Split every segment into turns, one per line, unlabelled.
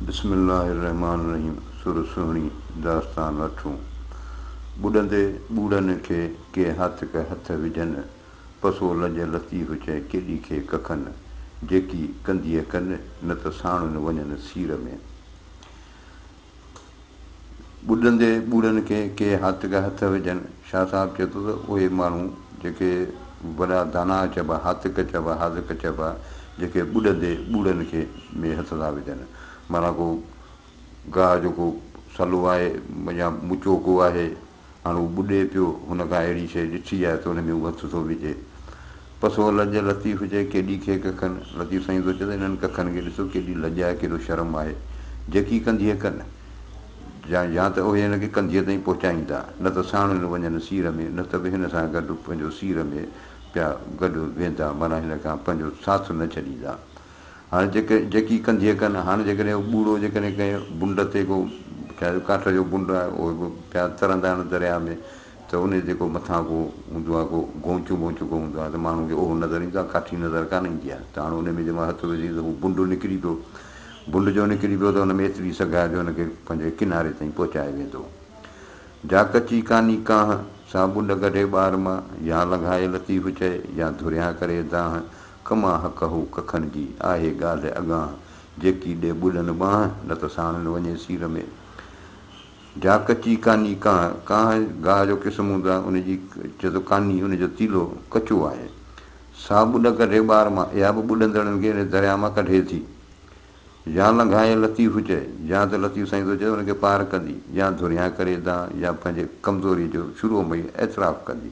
بسم الله الرحمان الرحيم سر سهڻي داستان اٺون ٻڏندي ٻوڙن کي ڪي هاتڪ هٿ وجهن پسو لڄ لطيف چئي ڪيڏي کي ڪکن جيڪي ڪنديء ڪن نه ته ساڻن وڃن سير ۾. ٻڏندي ٻوڙن کي ڪي هاتڪ هٿ وجهن. شاهه صاحب چئي ٿو ته اهي ماڻهو جيڪي وڏا داناء چئبا، هاتڪ چئبا، حاذق چئبا، جيڪي ٻڏندي ٻوڙن کي ۾ هٿ ٿا وجهن. معنيٰ ڪو گاهه جو ڪو سلو آهي يا مچوڪو آهي. هاڻ هو ٻڏي پيو، هن ڪا اهڙي شيء ڏٺي آهي ته ان ۾ هو هٿ ٿو وجهي. پس هو لڄ لطيف چئي، ڪيڏي کي ڪکن! لطيف سائين ٿو چئي ته انهن ڪکن کي ڏسو، ڪيڏي لڄ آهي، ڪيڏو شرم آهي، جهڪي ڪنڌيء ڪن، يا ته اهي هن کي ڪنڌيء تائين پهچائيندا، نه ته ساڻن وڃن سير ۾، نه ته به هن سان گڏ پنهنجو سير ۾ پيا گڏ ويندا، معنيٰ هن کان پنهنجو ساٿ نه ڇڏيندا. هاڻ جيڪي جيڪي ڪنڌيء ڪن، هاڻ جيڪڏهن اهو ٻوڙو جيڪڏهن ڪنهن بنڊ تي ڪو ڇا جو ڪاٺ جو بنڊ آهي اهو به پيا ترندا آهن درياء ۾ ته انهي تي ڪو مٿان ڪو هوندو آهي ڪو گونچون وونچون ڪو هوندو آهي ته ماڻهوء کي اهو نظر ايندو آهي ڪاٺي نظر ڪانه ايندي آهي ته هاڻ انهي ۾ جيمهل هٿ وجهين ته هو بنڊ نڪري پيو بنڊ جو نڪري پيو ته ان ۾ ايتري سگهه آهي جو ان کي پنهنجي ڪناري تائين پهچائي ويندو جا ڪچي ڪاني ڪانه سا بنڊ ڪڍي ٻار مان يا لنگهائي لطيف چئي يا ڌريان ڪري دانهن ڪما حق هو ڪکن جي، آهي ڳالهه اڳانهه، جيڪي ڏي ٻلن ٻانهه، نه ته ساڻن وڃي سير ۾. جا ڪچي ڪاني ڪانه، ڪانه گاهه جو قسم هوند آ، ان جي چئه ٿو ڪاني، ان جو تيلو ڪچو آهي. سا ٻڏ ڪڍي ٻار مان، اها به ٻڏندڙن کي ان درياء مان ڪڍي ٿي. يا لنگهائي لطيف چئي، يا ته لطيف سائين ٿو چئي ته ان کي پار ڪندي، يا ڌريان ڪري دانهن، يا پنهنجي ڪمزوريء جو شروع ۾ ئي اعتراف ڪندي.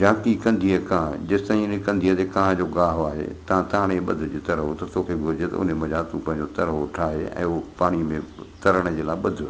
جهانڪي ڪنڌيء ڪانء، جيستائين انهي ڪنڌيء تي ڪانء جو گاهه آهي، تان تاڻي ٻڌ جي ترهو ته توکي گهرجي ته انهي منجهان تون پنهنجو ترهو ٺاهه ۽ اهو پاڻيء ۾ ترڻ جي لاء ٻڌ.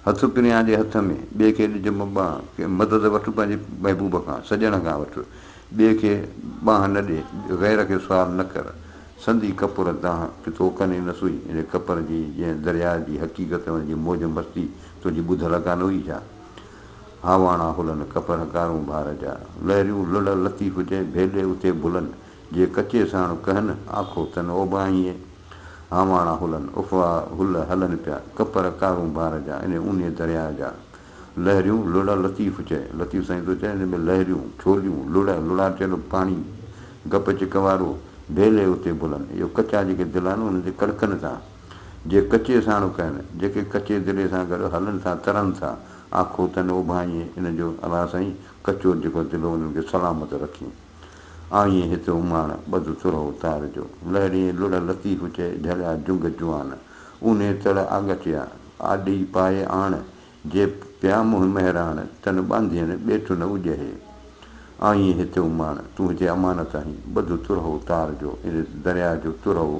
هٿ پريان ڏي هٿ ۾، ٻئي کي ڏج مٻانهن، ڪنهن مدد وٺ پنهنجي محبوب کان، سڄڻ کان وٺ، ٻئي کي ٻانهن نه ڏي، غير کي سوال نه ڪر، سندي ڪپر دانهن ڪي تو ڪنين نه سوئي، انهي ڪپر جي جنهن درياء جي حقيقت ۽ ان جي موج مستي تنهنجي ٻڌ لڳا نه هئي ڇا؟ هاواڻا هلن ڪپر ڪارون بار جا، لهريون لڙهه لطيف جئين ڀيڏي اتي ڀلن، جي ڪچي ساڻ ڪهن آکو تن اوٻاهينء، هاواڻا هلن اڦا هل هلن پيا ڪپر ڪارون بار جا، ان اونهي درياء جا، لهريون لڙهه لطيف چئي، لطيف سائين ٿو چئي، ان ۾ لهريون، ڇوليون، لڙهه، لڙاٽيل پاڻي، گپ چڪ وارو، ڀيلي اتي ڀلن، اهو ڪچا جيڪي دل آهن انهن جي ڪڙڪن تان. جي ڪچي ساڻوڪ آهن، جيڪي ڪچي دلي سان گڏ هلن ٿا، ترن ٿا، آکو تن اوڀانئي ان جو الله سائين ڪچو جيڪو دلو انهن کي سلامت رکين. آئين هت اماڻ، ٻڌ ترهو تار جو. لهڙين لڙهه لطيف چئي، جهليا جنگ جوان. اونهي تڙ آڳاٽيا، آڏي پائي آڻ. جي پيا منهن مهراڻ، تن ٻانڌين ٻيٽ نه اجهي. آئين هت اماڻ، تون هتي امانت آهين، ٻڌ ترهو تار جو. ان درياء جو ترهو.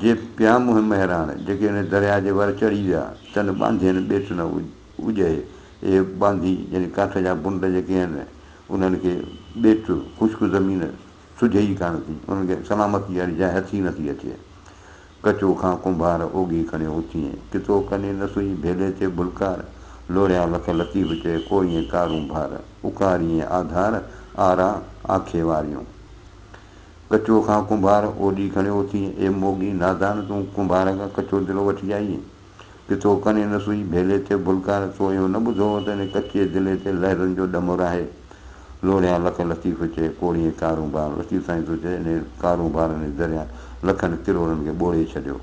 جي پيا منهن مهراڻ، جيڪي ان درياء جي ور چڙهي ويا، تن ٻانڌين ٻيٽ نه اجهي. اهي ٻانڌي يعني ڪاٺ جا بنڊ جيڪي آهن، انهن کي ٻيٽ، خشڪ زمين، سجهي ئي ڪانه ٿي. انهن کي سلامتيء واري جاء هٿ ئي نٿي اچي. ڪچو کان ڪنڀار اوگهي کڻيو اٿيئين، ڪتو ڪني نه سئي ڀيلي تي ڀلڪار، لوڙهيا لک لطيف چئي ڪوئيئين ڪارون ڀار، اڪاريئين آڌار، آرا، آکي واريون. ڪچو کان ڪنڀار اوڏي کڻيو اٿيئي، اي موڳي نادان تون ڪنڀار کان ڪچو دلو وٺي آئيئي، ڪي تو ڪنين نه سوئي ڀيلي تي ڀلڪار، تو اهو نه ٻڌو هو ته ان ڪچي دلي تي لهرن جو ڏمر آهي، لوڙهيان لک لطيف چئي ڪوڙيئي ڪارون بار، لطيف سائين تو چئي انهي ڪارون بارن ۽ دريا لکن ڪروڙن کي ٻوڙي ڇڏيو،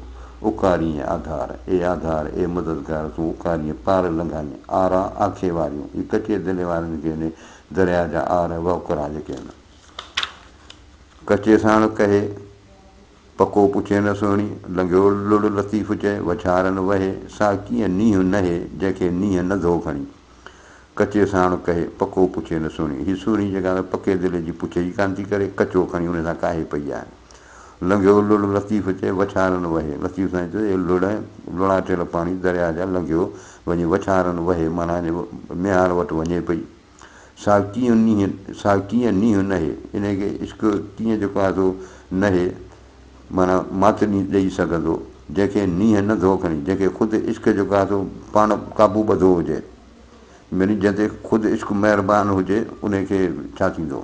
اڪاريئي آڌار، اي آڌار، اي مددگار تون اڪاريئي پار لنگهائيئي، آرا آکي واريون، اي ڪچي دلي وارن کي انهي دريا جا آر وهڪرا جيڪي ان. ڪچي ساڻ ڪهي، پڪو پڇي نه سهڻي، لنگهيو لڙ لطيف چئي، وڇارن وهي، سا ڪيئن نينهن نهي، جنهن کي نينهن نه ڌو کڻي. ڪچي ساڻ ڪهي، پڪو پڇي نه سهڻي، هي سهڻي جيڪا ته پڪي دل جي پڇ ئي ڪانه ٿي ڪري، ڪچو کڻي ان سان ڪاهي پئي آهي. لنگهيو لڙ لطيف چئي، وڇارن وهي، لطيف سائين چيو، اي لڙ ۽ لڙاٽيل پاڻي درياهه جا لنگهيو وڃي وڇارن وهي معنيٰ ميهار وٽ وڃي پئي. سا ڪيئن نيهن سا ڪيئن نيهن نهي يعني ڪي عشق ڪيئن جيڪو آهي سو نهي معنيٰ مات نيهن ڏئي سگهندو جنهن کي نيهن نه ڌو کڻي جنهن کي خود عشق جيڪو آهي سو پاڻ قابو ٻڌو هجي يعني جنهن تي خود عشق مهربان هجي انهي کي ڇا ٿيندو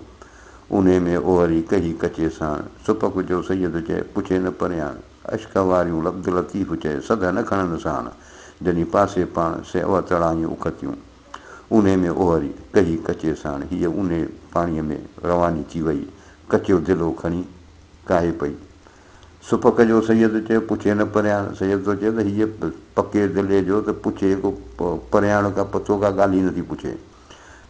انهي ۾ اوهري ڪهي ڪچي ساڻ سپڪ جو سيد چئي پڇي نه پرياڻ عشق واريون عبداللطيف چئي سڌ نه کڻن ساڻ جنهي پاسي پاڻ سي اوهتڙائيون اکتيون. اونهي ۾ اوهري ڪهي ڪچي ساڻ هيء اونهي پاڻيء ۾ رواني ٿي ويئي. ڪچو دلو کڻي ڪاهي پئي. سپڪ جو سيد چيو، پڇي نه پريان. سيد ٿو چئي ته هيء پڪي دلي جو ته پڇي ڪو پريان ڪا پتو ڪا ڳالهه ئي نٿي پڇي.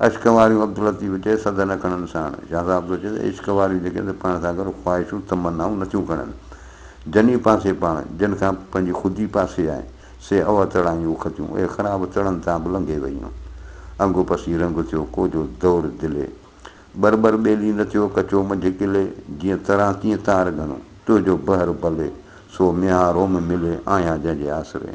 عشق واريون عبداللطيف چئي سڌ نه کڻن ساڻ. شاهه صاحب ٿو چئي ته عشق واريون جيڪي آهن سي پاڻ سان گڏ خواهشون تمنائون نٿيون کڻن. جني پاسي پاڻ، جن کان پنهنجي خودي پاسي آهي. سي اوا چڙايون اکتيون، اهي خراب چڙن تان به لنگهي ويون. انگ پسي رنگ ٿيو، ڪوجو دور دلي. ٻر ٻر ٻيلي نه ٿيو، ڪچو منجهه ڪلي. جيئن تران تيئن تار گهڻو، تنهنجو بحر ڀلي. سو ميان روم ملي، آهيان جنهن جي آسري.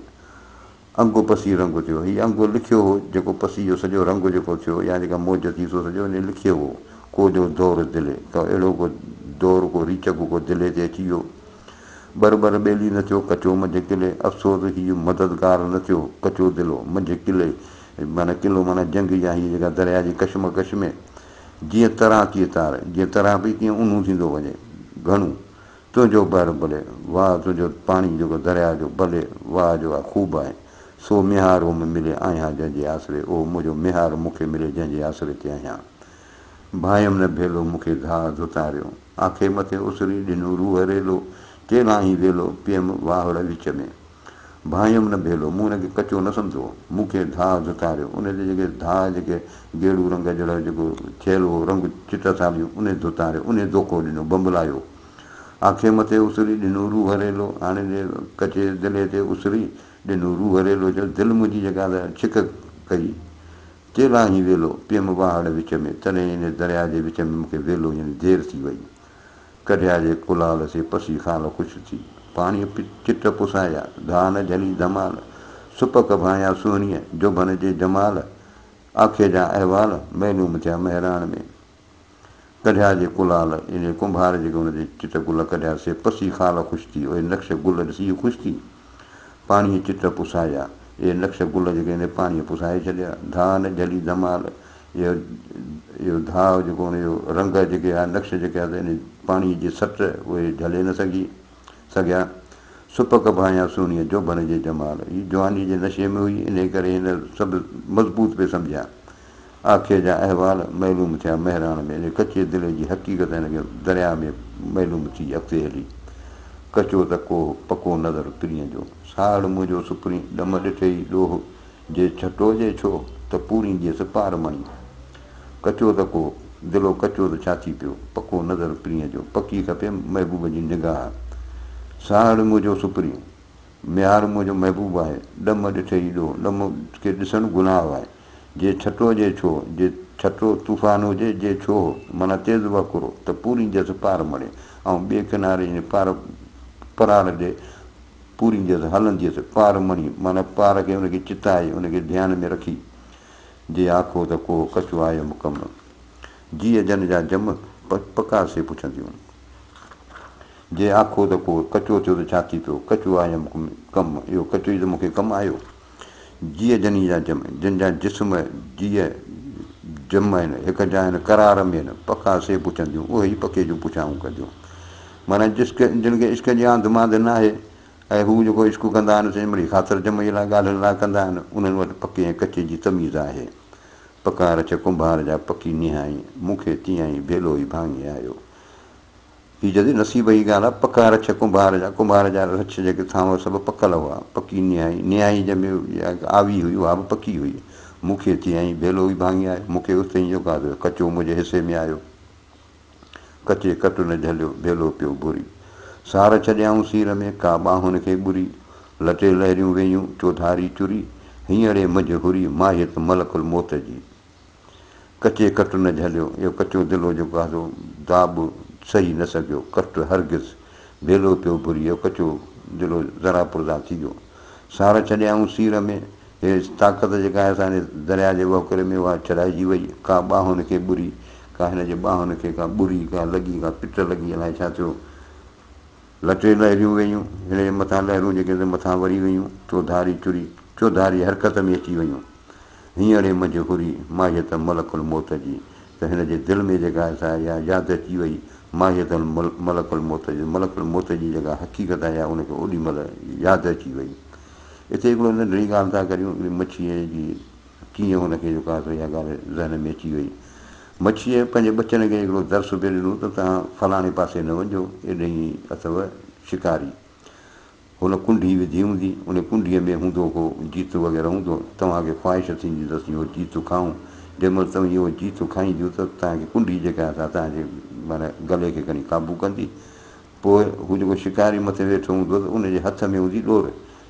انگ پسي رنگ ٿيو، هي انگ لکيو هو، جيڪو پسي جو سڄو رنگ جيڪو ٿيو يا جيڪا موج ٿي سو سڄو انهيء لکيو هو. ڪوجو دور دلي، ڪو اهڙو ڪو دور ڪو ريچڪ ڪو دلي تي اچي ويو. ٻر ٻر ٻيلي نه ٿيو ڪچو منجهه قلعي افسوس هي جو مددگار نه ٿيو ڪچو دلو منجهه قلعي معنيٰ قلعو معنيٰ جنگ يا هيء جيڪا درياء جي ڪشمڪش ۾ جيئن تران تيئن تار جيئن تران پئي تيئن اونهون ٿيندو وڃي گهڻو تنهنجو بحر بلي واهه تنهنجو پاڻي جيڪو درياء جو بلي واهه جو آ خوب آهي سو ميهار او ۾ ملي آهيان جنهن جي آسري او منهنجو ميهار مون کي ملي جنهن جي آسري تي آهيان ڀانئيم نه ڀيلو مون کي ڌاء ڌتاريو. آکي مٿي اسري ڏنو روح ريلو، چيلائين ويلو، پيم واهڙ وچ ۾. ڀانئيم نه ڀيلو، مون ان کي ڪچو نه سمجهو، مون کي ڌاء ڌتاريو، ان جي جيڪي ڌاء جيڪي گيڙو رنگ جهڙو جيڪو ٿيل هو رنگ چٽ ساڙيون، انهي ڌتاريو، انهي دوکو ڏنو، بنبلايو. آکي مٿي اسري ڏنو روح ريلو، هاڻي ڏي ڪچي دلي تي اسري ڏنو روح ريلو، چيو دل منهنجي جيڪا ته ڇڪ ڪئي، تيلاهين ويلو پيم واهڙ وچ ۾، تڏهن ان درياء جي وچ ۾ مون کي ويلو يعني دير ٿي وئي. ڪڍيا جي ڪلال سي پسي خال خوش ٿي. پاڻيء چٽ پسايا، ڌان جھلي ڌمال، سپ ڪڀايا سهڻيء، جوڀن جي جمال، آکي جا احوال، ميلون مٿيا مهراڻ ۾. ڪڍيا جي ڪلال، ايڏي ڪنڀار جيڪي ان جي چٽ گل ڪڍيا، سي پسي خال خوش ٿي، اهي نقش گل ڏسي خوش ٿي، پاڻيهي چٽ پسايا، اهي نقش گل جيڪي ان جي پاڻيهي پسائي ڇڏيا، ڌاء نه جهلي ڌمال، اهو ڌاء جيڪو ان جو رنگ جيڪي آهي، نقش جيڪي آهي، سي ان پاڻيهي جي سٽ اهي جهلي نه سگهي سگهيا، سپڪ ڀانئيا سهڻيء جوڀن جي جمال، هي جوانيء جي نشي ۾ هئي، انهيء ڪري هن سڀ مضبوط پئي سمجهيا. آکيء جا احوال معلوم ٿيا مهراڻ ۾ ان ڪچي دلي جي حقيقت هن کي درياء ۾ معلوم ٿي اڳتي هلي ڪچو ته ڪوهه پڪو نظر پرينء جو ساهڙ منهنجو سپرين ڏم ڏٺئي ڏوهه جي ڇٽوجي ڇو ته پورين ڏيس پار مڻي ڪچو ته ڪوهه دلو ڪچو ته ڇا ٿي پيو پڪو نظر پرينء جو پڪي کپي محبوب جي نگاهه ساهڙ منهنجو سپرين ميهار منهنجو محبوب آهي ڏم ڏٺئي ڏوهه ڏم کي ڏسڻ گناهه آهي. جي ڇٽو جي ڇو، جي ڇٽو طوفان هجي، جي ڇو هو، معنيٰ تيز وهڪرو، ته پورين جس پار مڙي، ۽ ٻئي ڪناري يعني پار پراڙ ڏي، پورين جس هلنديس، پار مڻي، معنيٰ پار کي ان کي چتائي، ان کي ڌيان ۾ رکي، جي آکو ته ڪوهه ڪچو آهي يا مڪمل؟ جيء جن جا جم پڪا سي پڇنديون. جي آکو ته ڪوهه ڪچو ٿيو ته ڇا ٿي پيو، ڪچو آهي يا مڪمل؟ ڪم، اهو ڪچو ئي ته مون کي ڪم آيو. جيء جني جا جم، جن جا جسم جيء جم آهن، هڪ جا آهن قرار ۾ آهن، پکا سي پڇنديون، اهي ئي پکي جون پڇائون ڪنديون. معنيٰ جسڪ جن کي عشق جي آنڌ مانڌ ناهي ۽ هو جيڪو عشق ڪندا آهن سي مڙئي خاطر جمعي لاء ڳالهين لاء ڪندا آهن، انهن وٽ پڪي ۽ ڪچي جي تميز آهي. پڪا رڇ ڪنڀار جا پڪي نهائين، مون کي تيئن ئي ڀيلو ئي ڀاڱي آيو. هي جدي نصيب جي ڳالهه آ، پڪا رڇ ڪنڀار جا، ڪنڀار جا رڇ جيڪي ٿا اهي سڀ پڪل هئا، پڪي نهائي، نهائي جنهن ۾ اها هڪ آوي هئي اها به پڪي هئي، مون کي ٿي ائين ڀيلو ئي ڀاڱي آيو، مون کي اتي ئي جو گاد هيو، ڪچو منهنجي حصي ۾ آيو، ڪچي ڪٽ نه جهليو، ڀيلو پيو ڀري، سار ڇڏيائون سير ۾، ڪا ٻانهن کي ٻري، لٽي لهريون ويئيون، چوڌاري چري، هينئڙي منجهه هري، ماهيت ملڪ الموت جي. ڪچي ڪٽ نه جهليو، اهو ڪچو دلو جو گاهدو داء به سهي نه سگهيو، ڪٽ هرگز ڀيلو پيو ڀري، اهو ڪچو دلو ذرا پرزا ٿي ويو. سار ڇڏيائون سير ۾، هيء طاقت جيڪا هن سان هن درياء جي وهڪري ۾ اها ڇڏائجي وئي، ڪا ٻانهن هن کي ٻري، ڪا هن جي ٻانهن هن کي، ڪا ٻري، ڪا لڳي، ڪا پٽ لڳي، الائي ڇا ٿيو؟ لتي لهريون ويون، هن جي مٿان لهرون جيڪي ته مٿان وري ويون، چوڌاري چري، چوڌاري حرڪت ۾ اچي ويون. هينئڙي منجهه هري ماهيت ملڪ الموت جي ته هن جي دل ۾ جيڪا آهي سا اها ياد اچي وئي، ماهيت ملڪ الموت جي، ملڪ الموت جي جيڪا حقيقت آهي اها ان کي اوڏي مهل ياد اچي وئي. اتي هڪڙو ننڍڙي ڳالهه ٿا ڪريون، هڪڙي مڇيء جي. ڪيئن هن کي جيڪو آهي سو اها ڳالهه ذهن ۾ اچي وئي. مڇيء پنهنجي ٻچن کي هڪڙو درس به ڏنو ته توهان فلاڻي پاسي نه وڃجو، ايڏهين اٿو شڪاري. هن ڪنڍي وڌي هوندي، ان ڪنڍيء ۾ هوندو ڪو جيتو وغيره هوندو، توهان کي خواهش ٿيندي ته اسين اهو جيتو کائون، جنهن مهل توهين اهو جيتو کائينديون ته توهان کي ڪنڍي جيڪا آهي سا توهان جي معنيٰ گلي کي کڻي قابو ڪندي. پوء هو جيڪو شڪاري مٿي ويٺو هوندو ته ان جي هٿ ۾ هوندي ڏور،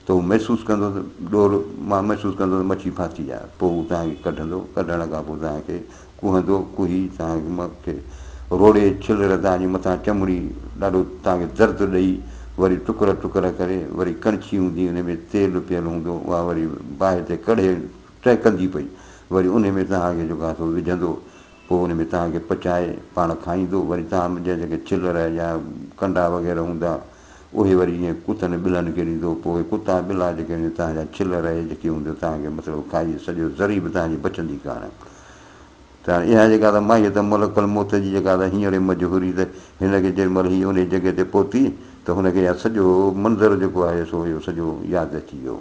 ته هو محسوس ڪندو ته ڏور مان محسوس ڪندو ته مڇي ڦاسي آهي پوء هو توهان کي ڪڍندو ڪڍڻ کان پوء توهان کي ڪوهندو ڪوهي توهان کي روڙي ڇلر توهان جي مٿان چمڙي ڏاڍو توهان کي درد ڏئي وري ٽڪر ٽڪر ڪري وري ڪڻڇي هوندي ان ۾ تيل پيل هوندو اها وري باهه تي ڪڙهي ٽهڪندي پئي وري ان ۾ توهان کي جيڪو آهي سو وجهندو پوء ان ۾ توهان کي پچائي پاڻ کائيندو وري توهان جا جيڪي ڇلر يا ڪنڊا وغيره هوندا اهي وري جيئن ڪتن ۽ ٻلن کي ڏيندو، پوء ڪتا ۽ ٻلا جيڪي هونديون توهان جا ڇل رهي جيڪي هونديون توهان کي مطلب کائي سڄو ذري به توهان جي بچندي ڪانه ته هاڻي اها جيڪا ته ماهيت ۽ ملڪ الموت جي جيڪا ته هينئڙي مجهه هري ته هن کي جيڏي مهل هي انهي جڳهه تي پهتي ته هن کي اها سڄو منظر جيڪو آهي سو اهو سڄو ياد اچي ويو.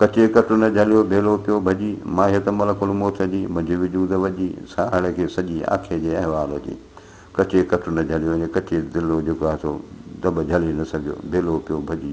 ڪچي ڪٽ نه جهليو، ڀيلو پيو ڀڄي، ماهيت ملڪ الموت جي، منهنجي وجود وڄي، ساهڙ کي سڄي آکي جي احوال جي. ڪچي ڪٽ نه جهليو يعني ڪچي دل هو جيڪو هٿو دٻ جهلي نه سگهيو، ڀيلو پيو ڀڄي.